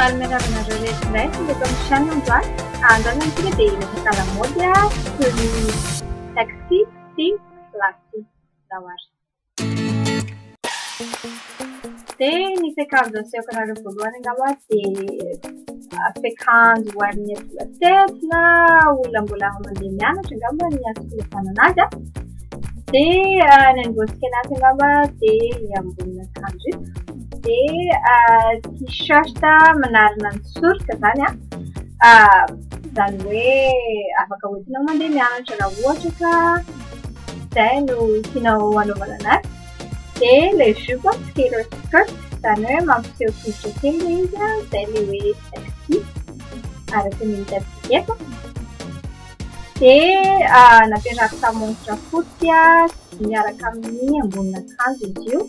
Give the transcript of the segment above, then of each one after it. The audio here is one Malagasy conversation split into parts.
Faly miarahaba anareo rehetra indray sy eto amin'ny chaîne androany. Androany amintsika dia hiresaka lamaody toy ny taxi sy lasy dawari. Dia ny fekanjo asehoko anareo voalohany angamba dia fekanjo ho an'ny adolescente na olona mbola mandeha mianatra angamba ny asokolofanana azy. Dia ny angotsika anaty angamba dia ny ambonin'akanjo. dia t-shirt manarona ny sorika izany an, izany hoe afaka hoentinao mandeha mianatra raha ohatra ka izay no tianao hanaovana anazy, dia ilay jupe an, skater skirt, izany hoe mampiseho tongotra kely ilay izy an, izay ilay hoe sexy araka ny hitantsika eto. Dia napetrako tamin'ny montre fotsy miaraka amin'ny ambonin'akanjo izy io.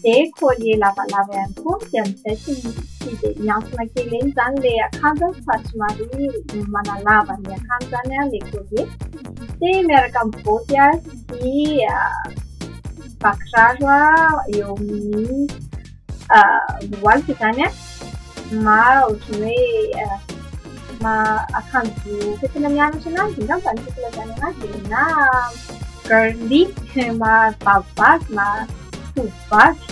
Dia collier lavalava ihany koa dia mibaiko ny tsiky dia mihantona kely eny izany ilay akanjo fa somary manalava ny akanjo izany ilay collier. Dia miaraka amin'ny boty sy bakiraro eo amin'ny miroaloka izany an, ma ohatran'ny hoe ma akanjo fitafiana mianatra ananjy angamba no tiako ilazana an'azy e, na girly ma vavivavy ma tovovavy.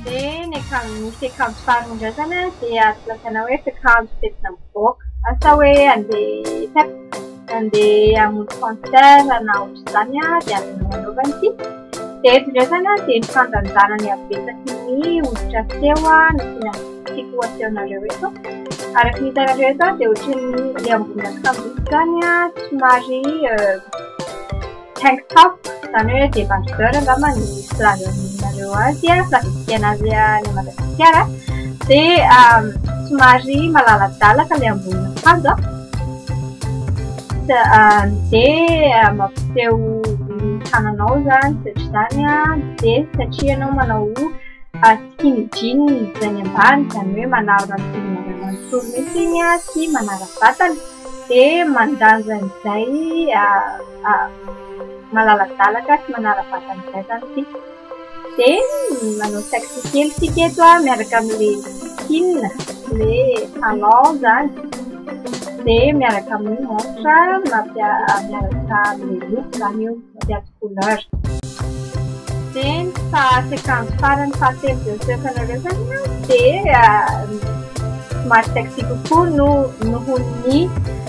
Dia ny akanjo misy akanjo farany indray izany an dia azo lazaina hoe fiakanjo fetina mivoaka, asa hoe handeha hiasa. Nandeha hamonjy concert na ohatr'izany aho dia avy nanaovana ity. Dia eto indray izany aho dia nifandanjana ny habetsaky ny hoditra feo nasiana ny tiako hasehonareo eto. Araka ny hitanareo eto dia ohatran'ny ilay ambonin'akanjo izany somary Tank top, izany hoe débardeur angamba ny filaza aminareo azy a, filaza fisiana azy any Madagasikara. Dia somary malaladalaka ilay ambonin'akanjo a, dia mampiseho ny tananao izany satria izany a, dia satria ianao manao skinny jean izay ny ambany, izany hoe manarona ny volonareo manontolo mihitsy iny a sy manara-batana dia mandanja an'izay. malaladalaka sy manara-batana izay izany isika. Dia manao taxi kely isika eto an, miaraka amin'ilay Kin, ilay Alain izany. Dia miaraka amin'ny montre, miaraka amin'ny loko izany io, mampiady couleur. Dia ny faha-sekanjo farany fahatelo dia mipetraka anareo izany an, dia somary sexy kokoa noho ny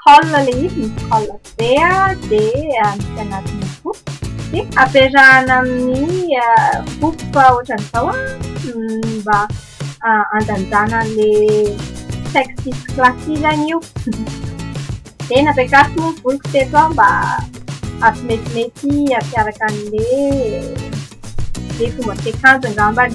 call ilay izy misy call be dia misy anatiny koa dia ampiarahana amin'ny groupe ohatran'izao mba handanjana an'ilay texte classisany io dia nampiakariko moa ny voloko teto aho mba hampimetimety hampiaraka an'ilay ilay fomba fiakanjo angambany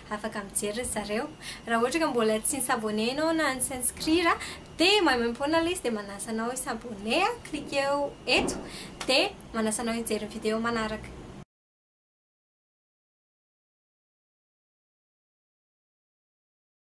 Afaka mijery ry zareo. Raha ohatra ka mbola tsy ni-s'abonner ianao na ni-s'inscrire dia maimaimpoana ilay izy dia manasa anao hi-s'abonner, cliquer-o eto dia manasa anao hijery ny video manaraka.